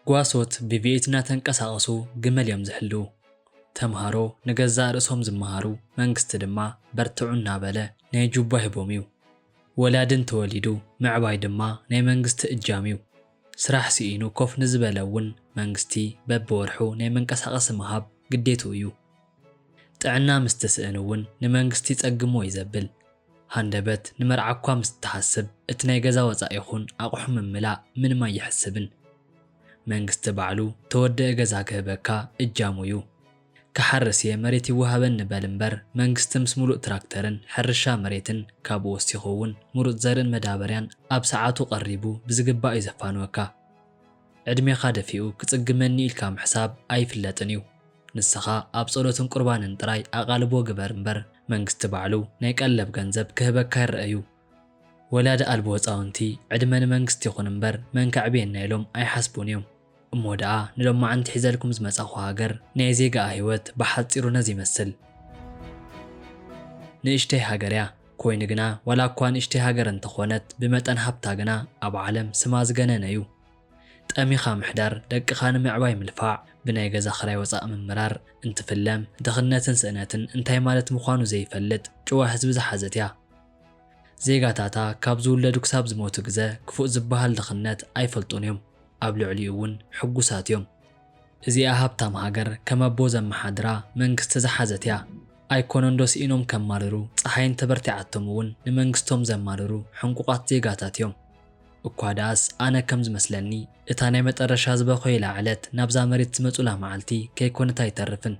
ጓሶት ብቪኤት እናተንቀሳቐሱ ግመል እዮም ዝሕልዉ። ተምሃሮ ንገዛእ ርእሶም ዝመሃሩ፣ መንግስቲ ድማ በርትዑ እናበለ ናይ ጁባ ሂቦም እዩ። ወላዲ እንተወሊዱ ምዕባይ ድማ ናይ መንግስቲ እጃም እዩ። ስራሕ ስኢኑ ኮፍ ንዝበለ እውን መንግስቲ በቢወርሑ ናይ መንቀሳቐሲ ምሃብ ግዴትኡ እዩ። ጥዕና ምስ ትስእን እውን ንመንግስቲ ይጸግሞ እዩ ዘብል ሃንደበት፣ ንመርዓ'ኳ ምስ ትሓስብ እቲ ናይ ገዛ ወጻኢ ይኹን ኣቕሑ ምምላእ ምንም ኣይሕስብን። መንግስቲ ባዕሉ ተወደኢ ገዛ ክህበካ እጃሙ እዩ። ክሓርስ እየ መሬት ይወሃበኒ በል እምበር መንግስቲ ምስ ምሉእ ትራክተርን ሕርሻ መሬትን ካብኡ ወሲኹ እውን ምሩጽ ዘርእን መዳበርያን ኣብ ሰዓቱ ቀሪቡ ብዝግባእ እዩ ዘፋንወካ። ዕድሜኻ ደፊኡ ክጽግመኒ ኢልካ ምሕሳብ ኣይፍለጥን እዩ። ንስኻ ኣብ ጸሎትን ቁርባንን ጥራይ ኣቓልቦ ግበር እምበር መንግስቲ ባዕሉ ናይ ቀለብ ገንዘብ ክህበካ ይረኣ እዩ። ወላዲ ኣልቦ ህጻውንቲ ዕድመ ንመንግስቲ ይኹን እምበር መን ከዕብየና ኢሎም ኣይሓስቡን እዮም። እሞ ደኣ ንሎማዓንቲ ሒዘልኩም ዝመጻኹ ሃገር ናይ ዜጋኣ ህይወት ብሓጺሩ ነዚ ይመስል። ንእሽተይ ሃገር እያ። ኮይኑ ግና ዋላ እኳ ንእሽተይ ሃገር እንተኾነት ብመጠን ሃብታ ግና ኣብ ዓለም ስማ ዝገነነ እዩ። ጠሚኻ ምሕዳር፣ ደቅኻ ንምዕባይ ምልፋዕ፣ ብናይ ገዛ ክራይ ወፃእ ምምራር፣ እንትፍለም፣ ድኽነትን ስእነትን እንታይ ማለት ምዃኑ ዘይፈልጥ ጭዋ ህዝቢ ዝሓዘት እያ። ዜጋታታ ካብ ዝውለዱ ክሳብ ዝሞቱ ግዘ ክፉእ ዝብሃል ድኽነት ኣይፈልጡን እዮም፣ ኣብ ልዕሊኡ እውን ሕጉሳት እዮም። እዚኣ ሃብታም ሃገር ከም ኣቦ ዘመሓድራ መንግስቲ ዝሓዘት እያ። ኣይኮነን ዶ ስኢኖም ከማርሩ፣ ፀሓይ እንተበርቲዓቶም እውን ንመንግስቶም ዘማርሩ ሕንቁቓት ዜጋታት እዮም። እኳ ደኣስ ኣነ ከም ዝመስለኒ እታ ናይ መጠረሻ ዝበኮዩላ ዕለት ናብዛ መሬት ዝመጹላ መዓልቲ ከይኮነት ኣይተርፍን።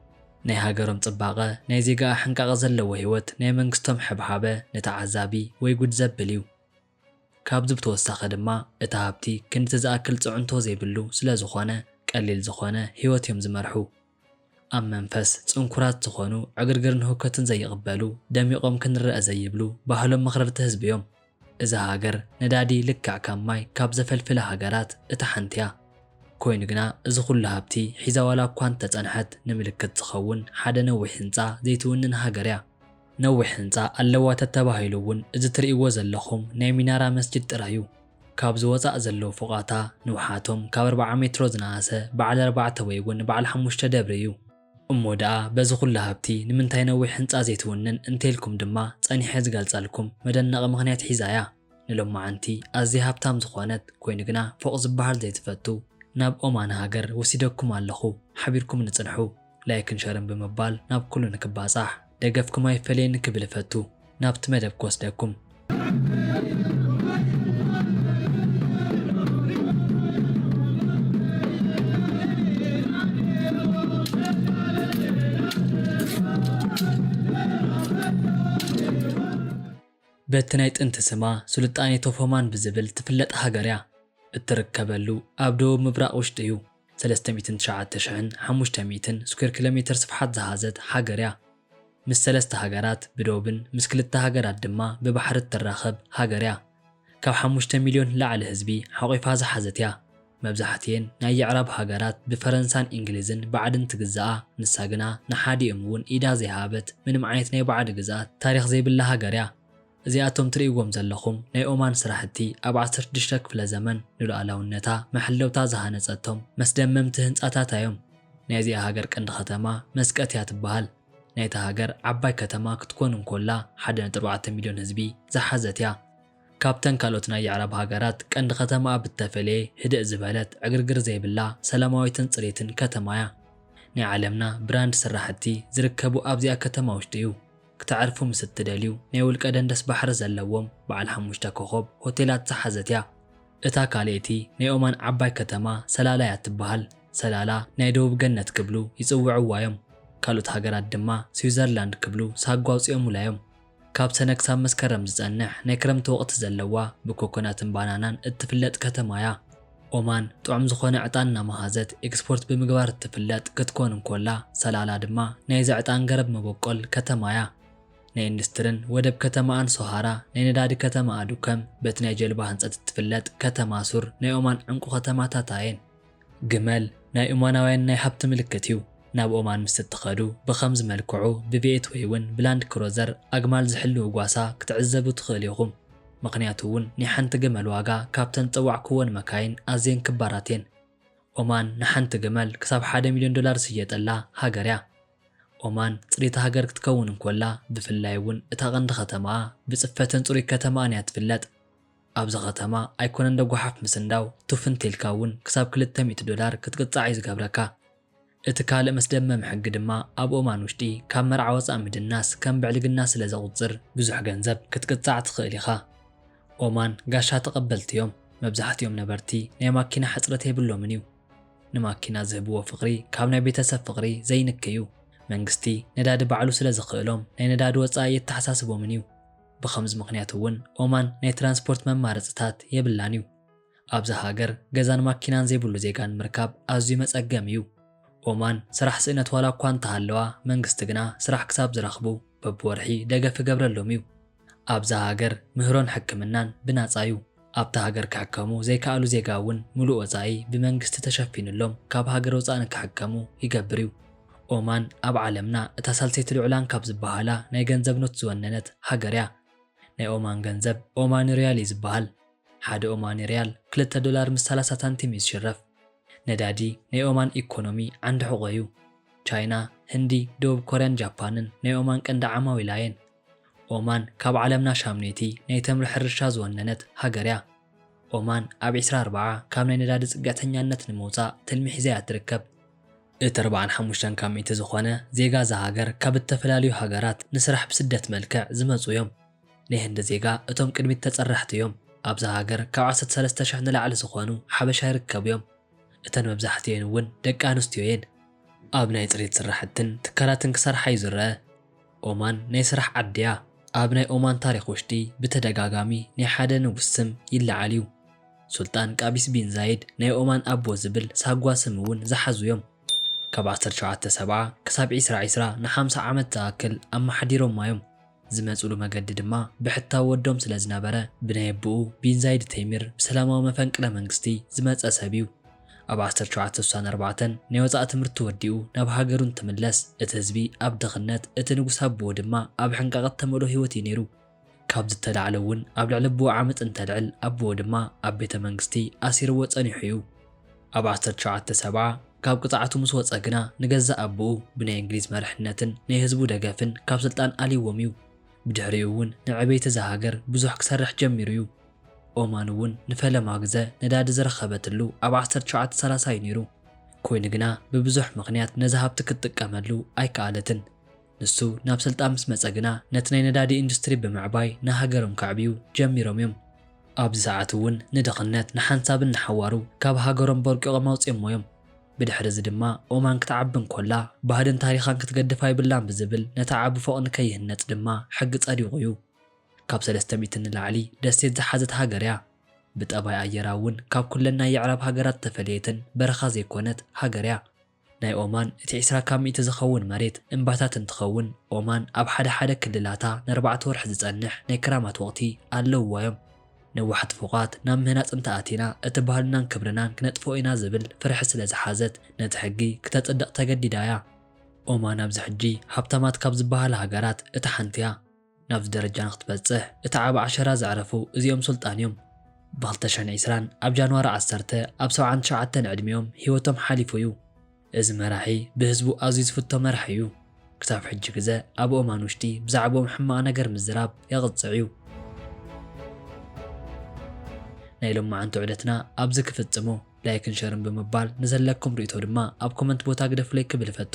ናይ ሃገሮም ጽባቐ፣ ናይ ዜጋኣ ሕንቃቐ ዘለዎ ህይወት ናይ መንግስቶም ሕብሓበ ንተዓዛቢ ወይ ጉድ ዘብል እዩ። ካብዚ ብተወሳኺ ድማ እቲ ሃብቲ ክንድቲ ዝኣክል ጽዕንቶ ዘይብሉ ስለ ዝኾነ ቀሊል ዝኾነ ህይወት እዮም ዝመርሑ። ኣብ መንፈስ ጽንኩራት ዝኾኑ፣ ዕግርግርን ህውከትን ዘይቕበሉ፣ ደሚቖም ክንረኣ ዘይብሉ፣ ባህሎም መኽረርቲ ህዝቢ'ዮም። እዛ ሃገር ነዳዲ ልክዕ ከም ማይ ካብ ዘፈልፍላ ሃገራት እታ ሓንቲ'ያ። ኮይኑ ግና እዚ ኩሉ ሃብቲ ሒዛ ዋላ'ኳ እንተጸንሐት ንምልክት ዝኸውን ሓደ ነዊሕ ህንጻ ዘይትውንን ሃገር'ያ። ነዊሕ ህንጻ ኣለዋ ተተባሂሉ እውን እዚ ትርእይዎ ዘለኹም ናይ ሚናራ መስጂድ ጥራይ እዩ። ካብዚ ወጻእ ዘለዉ ፎቓታ ንውሓቶም ካብ ኣርብዓ ሜትሮ ዝነኣሰ በዓል ኣርባዕተ ወይ እውን በዓል ሓሙሽተ ደብሪ እዩ። እሞ ደኣ በዚ ኩሉ ሃብቲ ንምንታይ ነዊሕ ህንጻ ዘይትውንን እንተይልኩም ድማ ጸኒሐ ዝገልጸልኩም መደነቒ ምኽንያት ሒዛ እያ። ንሎማዓንቲ ኣዝያ ሃብታም ዝኾነት ኮይኑ ግና ፎቕ ዝባሃል ዘይትፈቱ ናብ ኦማን ሃገር ወሲደኩም ኣለኹ ሓቢርኩምኒ ጽንሑ ላይክን ሸርን ብምባል ናብ ኩሉ ንክባጻሕ ደገፍኩም ኣይፈለየኒ ክብል እፈቱ ናብቲ መደብ ክወስደኩም በቲ ናይ ጥንቲ ስማ ሱልጣኔ ቶፎማን ብዝብል ትፍለጥ ሃገር እያ። እትርከበሉ ኣብ ደቡብ ምብራቕ ውሽጢ እዩ። ሰለስተ ሚእትን ትሽዓተ ሽሕን ሓሙሽተ ሚእትን ስኩዌር ኪሎ ሜተር ስፍሓት ዝሓዘት ሃገር እያ። ምስ ሰለስተ ሃገራት ብዶብን ምስ ክልተ ሃገራት ድማ ብባሕሪ እትራኸብ ሃገር እያ። ካብ ሓሙሽተ ሚልዮን ንላዕሊ ህዝቢ ሓቝፋ ዝሓዘት እያ። መብዛሕትኤን ናይ የዕራብ ሃገራት ብፈረንሳን ኢንግሊዝን ባዕድን ትግዛኣ ንሳ ግና ንሓዲኦም እውን ኢዳ ዘይሃበት ምንም ዓይነት ናይ ባዕዲ ግዝኣት ታሪኽ ዘይብላ ሃገር እያ። እዚኣቶም ትርእይዎም ዘለኹም ናይ ኦማን ስራሕቲ ኣብ ዓሰርተ ሽዱሽተ ክፍለ ዘመን ንሉኣላውነታ መሐለውታ ዝሃነጸቶም መስደመምቲ ህንጻታታ እዮም። ናይ እዚኣ ሃገር ቀንዲ ከተማ መስቀት እያ ትበሃል። ናይታ ሃገር ዓባይ ከተማ ክትኮን እንኮላ ሓደ ነጥቢ ኣርባዕተ ሚልዮን ህዝቢ ዝሓዘት እያ። ካብተን ካልኦት ናይ የዕራብ ሃገራት ቀንዲ ከተማኣ ብተፈለየ ህድእ ዝበለት፣ ዕግርግር ዘይብላ፣ ሰላማዊትን ጽርይትን ከተማ'ያ። ናይ ዓለምና ብራንድ ስራሕቲ ዝርከቡ ኣብዚኣ ከተማ ውሽጢ'ዩ። ክተዕርፉ ምስ እትደልዩ ናይ ውልቀ ደንደስ ባሕሪ ዘለዎም በዓል ሓሙሽተ ኮኾብ ሆቴላት ዝሓዘት'ያ። እታ ካልኣይቲ ናይ ኦማን ዓባይ ከተማ ሰላላ'ያ እትበሃል። ሰላላ ናይ ደቡብ ገነት ክብሉ ይጽውዕዋ'ዮም። ካልኦት ሃገራት ድማ ስዊዘርላንድ ክብሉ ሳጓ ኣውጺኦሙላ'ዮም። ካብ ሰነ ክሳብ መስከረም ዝጸንሕ ናይ ክረምቲ ወቕቲ ዘለዋ ብኮኮናትን ባናናን እትፍለጥ ከተማ'ያ። ኦማን ጥዑም ዝኾነ ዕጣን እናመሃዘት ኤክስፖርት ብምግባር እትፍለጥ ክትኮን እንኮላ፣ ሰላላ ድማ ናይዚ ዕጣን ገረብ መበቆል ከተማ'ያ። ናይ ኢንዱስትርን ወደብ ከተማኣን ሶሃራ፣ ናይ ነዳዲ ከተማኣ ዱከም፣ በቲ ናይ ጀልባ ህንጸት እትፍለጥ ከተማ ሱር ናይ ኦማን ዕንቁ ከተማታታ'የን። ግመል ናይ ኦማናውያን ናይ ሃብቲ ምልክት እዩ። ናብ ኦማን ምስ እትኸዱ ብኸምዚ መልክዑ ብቤት ወይውን ብላንድ ክሮዘር ኣግማል ዝሕልው ጓሳ ክትዕዘቡ ትኽእሉ ኢኹም። ምኽንያቱ እውን ናይ ሓንቲ ግመል ዋጋ ካብተን ዝጸዋዕኩወን መካይን ኣዝየን ክባራት እየን። ኦማን ንሓንቲ ግመል ክሳብ ሓደ ሚልዮን ዶላር ዝሽየጠላ ሃገር እያ። ኦማን ጽርይቲ ሃገር ክትከውን እንኮላ ብፍላይ እውን እታ ቀንዲ ከተማኣ ብጽፈትን ጽሩይ ከተማኣን እያ ትፍለጥ። ኣብዚ ከተማ ኣይኮነንዶ ጎሓፍ ምስንዳው ቱፍ እንተኢልካ እውን ክሳብ ክልተ ሚእቲ ዶላር ክትቅጻዕ እዩ ዝገብረካ። እቲ ካልእ መስደመሚ ሕጊ ድማ ኣብ ኦማን ውሽጢ ካብ መርዓ ወጻእ ምድናስ ከም ብዕልግና ስለ ዘቑጽር ብዙሕ ገንዘብ ክትቅጻዕ ትኽእል ኢኻ። ኦማን ጋሻ ተቐበልቲ እዮም። መብዛሕቲኦም ነበርቲ ናይ ማኪና ሕጽረት የብሎምን እዩ። ንማኪና ዝህብዎ ፍቕሪ ካብ ናይ ቤተሰብ ፍቕሪ ዘይንኪ እዩ። መንግስቲ ነዳዲ ባዕሉ ስለ ዝኽእሎም ናይ ነዳዲ ወጻኢ ኣየተሓሳስቦምን እዩ። ብኸምዚ ምኽንያት እውን ኦማን ናይ ትራንስፖርት መማረፅታት የብላን እዩ። ኣብዛ ሃገር ገዛን ማኪናን ዘይብሉ ዜጋ ንምርካብ ኣዝዩ መፀገሚ እዩ። ኦማን ስራሕ ስእነት ዋላ እኳ እንተሃለዋ መንግስቲ ግና ስራሕ ክሳብ ዝረኽቡ በብወርሒ ደገፍ ይገብረሎም እዩ። ኣብዛ ሃገር ምህሮን ሕክምናን ብናፃ እዩ። ኣብታ ሃገር ክሕከሙ ዘይከኣሉ ዜጋ እውን ምሉእ ወፃኢ ብመንግስቲ ተሸፊኑሎም ካብ ሃገር ወፃኢ ንክሕከሙ ይገብር እዩ። ኦማን ኣብ ዓለምና እታ ሳልሰይቲ ልዑላን ካብ ዝበሃላ ናይ ገንዘብ ኖት ዝወነነት ሃገር እያ። ናይ ኦማን ገንዘብ ኦማኒ ሪያል እዩ ዝበሃል። ሓደ ኦማኒ ሪያል ክልተ ዶላር ምስ ሰላሳ ሳንቲም እዩ ዝሽረፍ። ነዳዲ ናይ ኦማን ኢኮኖሚ ዓንዲ ሕቖ እዩ። ቻይና፣ ህንዲ፣ ደቡብ ኮርያን ጃፓንን ናይ ኦማን ቀንዲ ዓማዊላ እየን። ኦማን ካብ ዓለምና ሻምነይቲ ናይ ተምሪ ሕርሻ ዝወነነት ሃገር'ያ። ኦማን ኣብ ዕስራ ኣርብዓ ካብ ናይ ነዳዲ ጽግዕተኛነት ንምውጻእ ትልሚ ሒዛ'ያ እትርከብ። እቲ ኣርብዓን ሓሙሽተን ካብ ሚእቲ ዝኾነ ዜጋ እዛ ሃገር ካብ እተፈላልዩ ሃገራት ንስራሕ ብስደት መልክዕ ዝመጽኡ'ዮም። ናይ ህንዲ ዜጋ እቶም ቅድሚት ተጸራሕቲ'ዮም። ኣብዛ ሃገር ካብ ዓሰርተ ሰለስተ ሽሕ ንላዕሊ ዝኾኑ ሓበሻ ይርከቡ'ዮም። እተን መብዛሕቲኤን'ውን ደቂ ኣንስትዮ'የን። ኣብ ናይ ጽሬት ስራሕትን ትካላትን ክሰርሓ'ዩ ዝረኣ። ኦማን ናይ ስራሕ ዓዲ እያ። ኣብ ናይ ኦማን ታሪኽ ውሽጢ ብተደጋጋሚ ናይ ሓደ ንጉስ ስም ይለዓል እዩ። ሱልጣን ቃቢስ ቢን ዛይድ ናይ ኦማን ኣቦ ዝብል ሳጓ ስም እውን ዝሓዙ እዮም። ካብ ዓሰርተ ሸውዓተ ሰብዓ ክሳብ ዒስራ ዒስራ ንሓምሳ ዓመት ዝኣክል ኣመሓዲሮማ እዮም። ዝመፅሉ መገዲ ድማ ብሕታዊ ወዶም ስለዝነበረ ብናይ ኣቡኡ ቢን ዛይድ ተይሚር ብሰላማዊ መፈንቅለ መንግስቲ ዝመፀ ሰብ እዩ። ኣብ ዓሰርተ ሸውዓተ ስሳን ኣርባዕተን ናይ ወጻኢ ትምህርቲ ተወዲኡ ናብ ሃገሩ እንትምለስ እቲ ህዝቢ ኣብ ድኽነት እቲ ንጉስ ኣቡኡ ድማ ኣብ ሕንቃቐ እተመልኦ ህይወት እዩ ነይሩ። ካብዚ እተላዕለ እውን ኣብ ልዕሊ ኣቡኡ ዓመጽ እንተልዕል ኣቡኡ ድማ ኣብ ቤተ መንግስቲ ኣሲርዎ ጸኒሑ እዩ። ኣብ ዓሰርተ ሸውዓተ ሰብዓ ካብ ቅጽዓቱ ምስ ወጸ ግና ንገዛእ ኣቡኡ ብናይ እንግሊዝ መርሕነትን ናይ ህዝቡ ደገፍን ካብ ስልጣን ኣልይዎም እዩ። ብድሕሪኡ እውን ንዕብየት እዛ ሃገር ብዙሕ ክሰርሕ ጀሚሩ እዩ። ኦማን እውን ንፈለማ ግዘ ነዳዲ ዝረኸበትሉ ኣብ ዓሰርተ ትሽዓተ ሰላሳ እዩ ነይሩ። ኮይኑ ግና ብብዙሕ ምኽንያት ነዚ ሃብቲ ክትጥቀመሉ ኣይከኣለትን። ንሱ ናብ ስልጣን ምስ መፀ ግና ነቲ ናይ ነዳዲ ኢንዱስትሪ ብምዕባይ ንሃገሮም ከዕብዩ ጀሚሮም እዮም። ኣብዚ ሰዓት እውን ንድኽነት ንሓንሳብን ንሓዋሩ ካብ ሃገሮም ቦርቂቖም ኣውፂኦሞ እዮም። ብድሕሪ እዚ ድማ ኦማን ክትዓቢ እንኮላ ባህልን ታሪኻን ክትገድፍ ኣይብላን ብዝብል ነቲ ዓቢ ፎቕ ንከይህነፅ ድማ ሕጊ ፀዲቑ እዩ። ካብ ሰለስተ ሚእቲ ንላዕሊ ደሴት ዝሓዘት ሃገር እያ። ብጠባይ ኣየራ እውን ካብ ኩለን ናይ የዕራብ ሃገራት ዝተፈለየትን በረኻ ዘይኮነት ሃገር እያ። ናይ ኦማን እቲ ዕስራ ካብ ሚእቲ ዝኸውን መሬት እምባታት እንትኸውን ኦማን ኣብ ሓደ ሓደ ክልላታ ነርባዕተ ወርሒ ዝፀንሕ ናይ ክራማት ወቕቲ ኣለውዋ እዮም። ነዋሕቲ ፎቓት ናብ ምህናፅ እንተኣቲና እቲ ባህልናን ክብርናን ክነጥፍኦ ኢና ዝብል ፍርሒ ስለዝሓዘት ነቲ ሕጊ ክተፅድቕ ተገዲዳ እያ። ኦማን ኣብዚ ሕጂ ሃብታማት ካብ ዝበሃላ ሃገራት እታ ሓንቲ እያ። ናብዚ ደረጃ ንክትበጽሕ እቲ ዓቢ ዓሸራ ዘዕረፉ እዚኦም ሱልጣን እዮም። ብ ክልተ ሽሕን ዕስራን ኣብ ጃንዋሪ ዓሰርተ ኣብ ሰብዓን ትሽዓተን ዕድሚኦም ሂወቶም ሓሊፉ እዩ። እዚ መራሒ ብህዝቡ ኣዝዩ ዝፍቶ መራሒ እዩ። ክሳብ ሕጂ ግዘ ኣብ ኦማን ውሽጢ ብዛዕብኦም ሕማቕ ነገር ምዝራብ የቕጽዕ እዩ። ናይ ሎማዓንቲ ዑደትና ኣብዚ ክፍጽሞ ላይክን ሸርን ብምባል ንዘለኩም ርእይቶ ድማ ኣብ ኮመንት ቦታ ግደፉለይ ክብል እፈቱ።